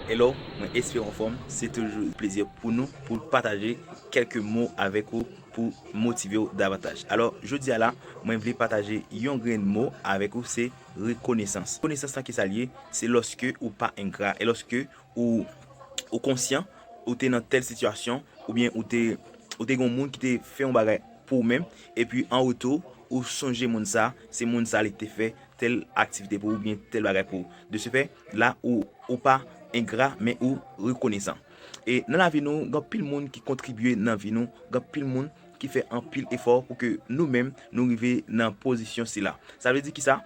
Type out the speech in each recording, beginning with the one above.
Hello, mwen espere anfòm, se toujou yon plezi pou nou pou pataje kèlke mo avèk ou pou motive ou davantaj. Alò, jodi a la, mwen vle pataje yon grenn mo avèk ou se rekonesans. Rekonesans lan ki sa l ye? Se lòske ou pa engra, e lòske ou konsyan ou te nan tèl sitiyasyon oubyen ou te ou te gen yon moun ki te fè yon bagay pou ou menm, epi an retou ou sonje moun sa, se moun sa li te fè tèl aktivite pou ou oubyen tèl bagay pou ou. De se fè, la ou ou pa engra men ou rekonesan. E nan lavi nou, gen anpil moun ki kontribye nan vi nou, gen anpil moun ki fè anpil efò pou ke nou menm nou rive nan pozisyon sila. Sa vle di ki sa?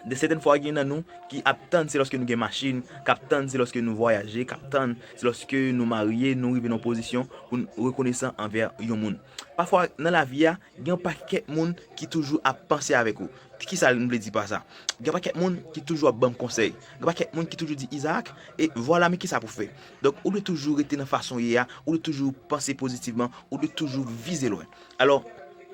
De sèten fwa gen nan nou ki ap tann se lòske nou gen machin, k ap tann se lòske nou vwayaje, k ap tann se lòske nou marye, nou rive nan yon pozisyon pou n rekonesan anvè yon moun. Pafwa nan lavi a, Gen yon pakèt moun ki toujou ap panse avèk ou. Kisa m vle di pa sa? Gen yon pakèt moun ki toujou ap ban m konsèy. Gen yon pakèt moun ki toujou di Isaac, e vwala men kisa pou fè. Donk ou dwe toujou rete nan fason w ye a, ou dwe toujou panse pozitivman, ou dwe toujou vize lwen. Alò,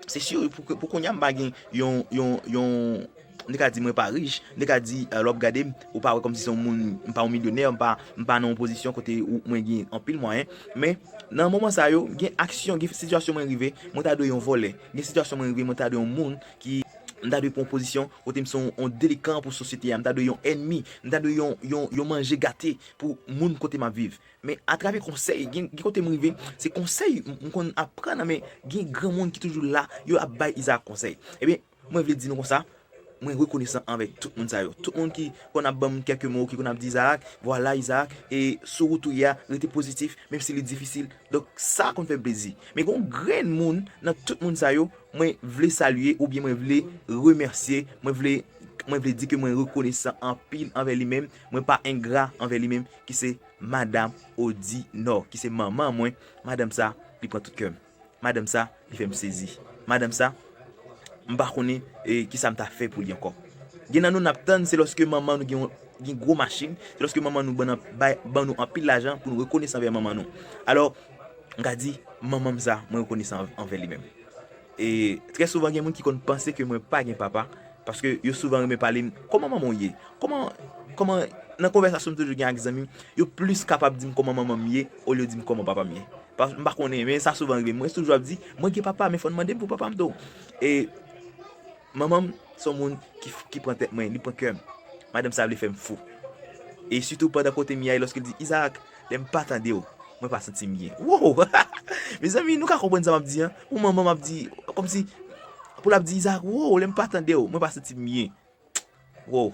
se si pou kounya m pa gen yon, yon, yon. Li ka di mwen pa rich, li ka di lè w ap gade m, ou pa wè kòmsi se yon moun, m pa yon milyonè, m pa nan yon pozisyon kote mwen gen anpil mwayen. Men, nan moman sa yo, gen aksyon, gen sitiyasyon mwen rive, mwen ta dwe yon vòlè. Gen sitiyasyon mwen rive, mwen ta dwe yon moun ki, m ta dwe pran yon pozisyon kote m se yon delikan pou sosyete a, m ta dwe yon ènmi, m ta dwe yon manje gate pou moun kote m ap viv. Men, atravè konsèy, gen kote m rive, se konsèy m konn ap pran nan men gen granmoun ki toujou la, yo ap bay Izaak konsèy. Ebyen. Mwen vle di nou konsa, mwen rekonesan anvè tout moun sa yo. Tout moun ki konn ap banm kèk mo, ki konn ap di Izaak, vwala Izaak, e sou wout ou ye a, rete pozitif, menm si li difisil. Donk sa konn fè m plezi. Men gen yon grenn moun nan tout moun sa yo, mwen vle salye oubyen mwen vle remèsye, mwen vle, mwen vle di ke mwen rekonesan anpil anvè li menm, mwen pa engra anvè li menm, ki se Madam Odinò, ki se manman mwen. Madanm sa, li pran tout kè m. Madanm sa li fè m sezi. Madanm sa m pa konnen kisa m ta fè pou li ankò. Gen nan nou n ap tann se lòske manman nou gen yon gwo machin, se lòske manman nou ban nou anpil lajan pou nou rekonesan anvè manman nou. Alò, m ka di, manman m sa, mwen rekonesan anvè li menm. E trè souvan gen moun ki konn panse ke mwen pa gen papa, paske yo souvan renmen pale m, kòman manman w ye? Kòman, kòman, nan konvèsasyon m toujou gen ak zanmi m, yo plis kapab di m kòman manman m ye olye yo di m kòman papa m ye. M pa konnen men sa souvan rive m. Mwen toujou ap di, mwen gen papa men fò n mande m pou papa m tou. E manman m son moun ki pran tèt mwen, li pran kè m. Madanm sa vle fè m fou. E sitou pandan kote m ye a e lòske l di, Izarak, lè m pa tande w, mwen pa santi m byen. Woo! Mezanmi, nou ka konprann sa m ap di an? Yon manman m ap di, kòmsi pou l ap di Izarak, woo, lè m pa tande w, mwen pa santi m byen. Woww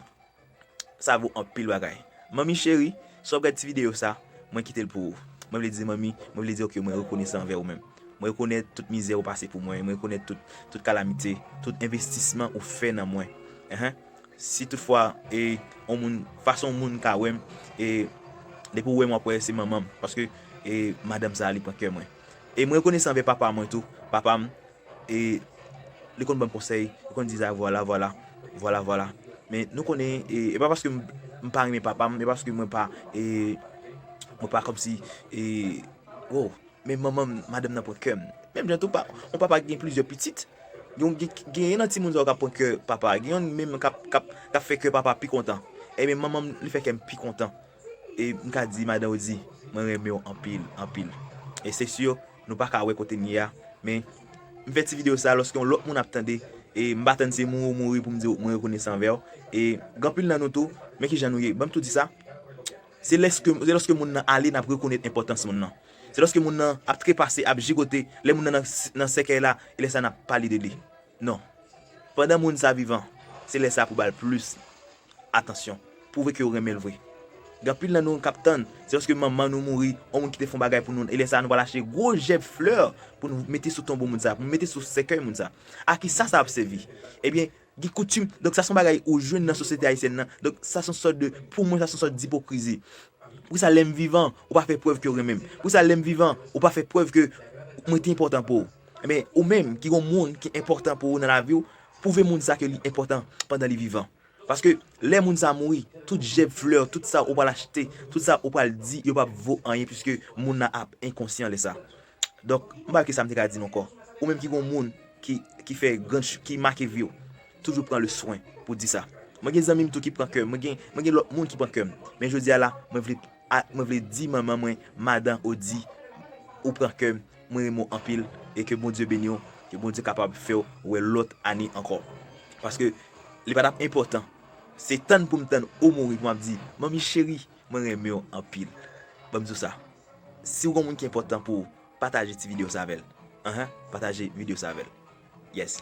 sa vo anpil bagay Manmi cheri si wap gad ti video sa mwen kitel pou ou Mwen vle di manmi mwen vle di ou ke mwen rekonesan anvè ou menm Mwen rekonèt tout mizè ou pase pou mwen mwen rekonèt tout kalamite tout envestisman ou fè nan mwen Ehe si tout fwa e yon moun fason yon moun ka wèm e depi ou wèm wap wè se manmanm paske e madanm sa li pran kè mwen E mwen rekonesan anvè papa mwen tou papam E li konn banm konsèy, li konn di Zara vwala vwala, vwala vwala. Men nou konnen, e pa paske m pa renmen papa m, e pa paske mwen pa, e mwen pa kòmsi, e wo. Men manman m, madanm nan pran kè m. Menm jan tou pa, yon papa ki gen plizyè pitit, genyen nan timoun sa yo k ap pran kè papa a. Gen yonn menm k ap fè kè papa a pi kontan. Enben manman m, li fè kè m pi kontan. E m ka di madan Odi, mwen renmen w anpil, anpil. E se si yo. Nou pa ka wè kote m ye a, men m fè ti videyo sa lòske yon lòt moun ap tande, e m pa tann se mouri w mouri pou m di w mwen rekonesan anvè w, e gen anpil nan nou tou, men kijan nou ye, ban m tou di sa, se lòske moun nan ale n ap rekonèt enpòtans moun nan, se lòske moun nan ap trepase, ap jigote, lè moun nan nan sèkèy la, e lè sa n ap pale de li. Non. Pandan moun sa vivan, se lè sa pou bal plis atansyon. Pwouve kew renmenl vre. Gen anpil nan nou kap tann, se lòske manman nou mouri, on moun kite fon bagay pou nou, e lè sa nou pral achte gwo jèb flè poun mete sou tonbo moun sa, poun mete sou sèkèy moun sa. Akisa sa ap sèvi? Ebyen, gen koutim, donk sa son bagay ou jwenn nan sosyete ayisyèn nan, donk sa son sòt de, pou mwen sa son sòt dipokrizi. Poukisa lèm vivan ou pa fè prèv kew renmenm? Poukisa lèm vivan ou pa fè prèv ke mwen te enpòtan pouw? Ebyen ou menm ki gon moun ki enpòtan pou ou nan lavi w pwouve moun sa ke li enpòtan pandan li vivan. Paske lè moun sa mouri tout jèb flè, tout sa ou pral achte, tout sa ou pral di yo pap vo anyen pwiske moun nan ap enkonsyan lè sa. Donk m pa wè kisa m te ka di nou ankò. Ou menm ki gon moun ki fè gran ki make vi w toujou pran le swen pou di sa. Mwen gen zanmi m tou ki pran kè m, mwen gen mwen gen lòt moun ki pran kè m. Men jodi a la mwen vle mwen vle di manman mwen madan Odie ou pran kè m. Mwen renmen w anpil e ke Bondye beni w ke Bondye kapab fè w wè lòt ane ankò paske li pa tap enpòtan se tann pou m tann ou mouri pou map di manmi cheri mwen renmen w anpil banm di w sa si w gen yon moun ki enpòtan pou ou pataje ti video sa avèl anha pataje video sa avèl yes.